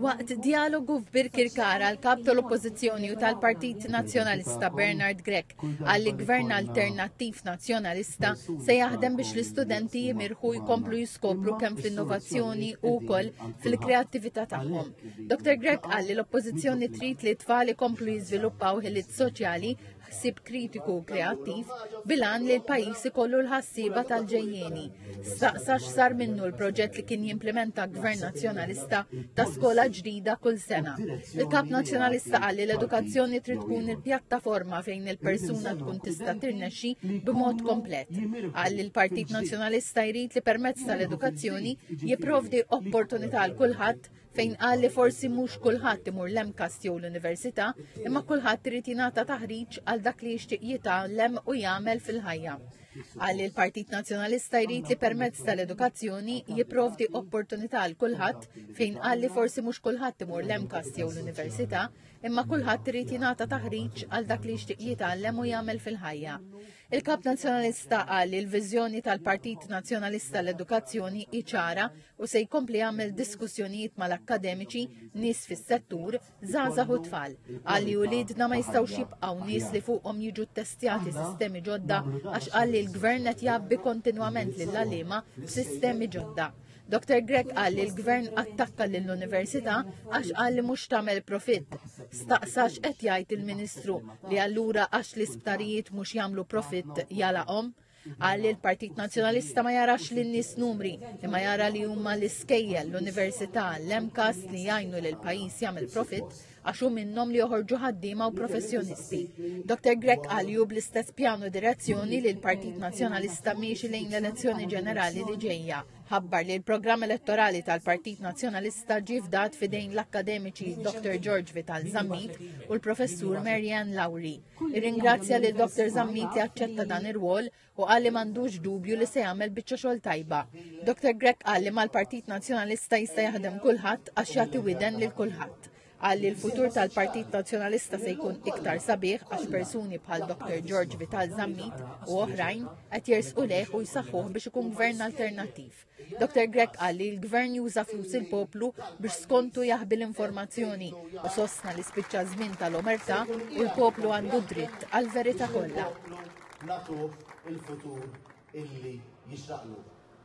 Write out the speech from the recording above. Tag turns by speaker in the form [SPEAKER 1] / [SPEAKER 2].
[SPEAKER 1] Waqt djalogu f'Birkirkara, l-kap tal-Oppożizzjoni u tal-Partit Nazzjonalista Bernard Grech qal li Gvern Alternattiv Nazzjonalista se jaħdem biex l-istudenti jimirħu jkomplu jiskopru kemm fl-innovazzjoni u wkoll fil-kreattività tagħhom. Dr. Grech qal li l-Oppożizzjoni trid li t-tfal ikomplu jiżviluppaw ħiliet soċjali ħsieb kritiku u kreattiv bilan li l-pajis ikollu l-ħassiba tal-ġejjeni. Staqsa x'sar minnu l-proġett li kien jimplementa gvern nazzjonalista ta' skola ġdida kull sena. Il-kap nazzjonalista qal li l-edukazzjoni trid tkun il-pjattaforma fejn il-persuna tkun tista' tirnexxi b'mod komplet. Qal li l-Partit Nazzjonalista jrid li permezz tal-edukazzjoni jipprovdi opportunità l kulħadd fejn qal li forsi mhux kulħadd imur l-MCAS jew l-università, imma kulħadd irid jingħata taħriġ għal dak li jixtieq jitgħallem u jagħmel fil-ħajja. Għal il-Partit Nazzjonalista jrid li permezz tal-edukazzjoni jipprovdi opportunità għal kulħadd fejn qal li forsi mhux kulħadd imur l-MCAS jew l-università, imma kulħadd irid jingħata taħriġ għal dak li jixtieq jitgħallem u jagħmel fil-ħajja. Il-Kap Nazzjonalista qal li l-viżjoni tal-Partit Nazzjonalista l-edukazzjoni iċara u se jkompli jagħmel diskussjonijiet mal-akkademiċi, nies fis-settur, żgħażagħ u tfal. Qal li uliedna ma jistgħux jibqgħu nies li fuqhom jiġu ttestjati sistemi ġodda għax qal li l-Gvern qed jabbi kontinwament lill għalima b'sistemi ġodda. Dr. Grech qal li l-gvern attakka lill-università għax qal li mhux tagħmel profitt. Staqsax qed jgħid il-Ministru li allura għax l-isptarijiet mhux jagħmlu profitt jalaqhom. Qal li l-Partit Nazzjonalista ma jarax li n-nies numri, imma jara li huma l-iskejjel, l-università, l-MCAS li jgħinu li l-pajjiż jagħmel profitt għax hu minnhom li joħorġu ħaddiema u professjonisti. Dr. Grek għalju bl-istess pjanu direzzjoni li l-Partit Nazzjonalista miexi lejn l-elezzjoni ġenerali li ġejja. Ħabbar li l-programm elettorali tal-Partit Nazzjonalista ġie fdat fidejn l-akkademiċi Dr. George Vital Zammit u l-professur Marianne Lowry. Irringrazzja li Dr. Zammit jaċċetta dan ir-rwol u qal li m'għandux dubju li se jagħmel biċċa xogħol tajba. Dr. Grech qal li mal-Partit Nazzjonalista jista' jaħdem kulħadd għax jagħti widen lil kulħadd. Qal li l-futur tal-Partit Nazzjonalista se jkun iktar sabiħ għax persuni bħal Dr. George Vital Zammit u oħrajn qed jersqu lejh u jsaħħuh biex ikun gvern alternattiv. Dr. Grech qal li l-Gvern juża flus il-poplu biex skontu jaħbi l-informazzjoni u sostna li spiċċa żmien tal-omerta u l-poplu għandu dritt għal verita kollha. Natuh
[SPEAKER 2] il-futur
[SPEAKER 1] illi
[SPEAKER 2] jixraqlu.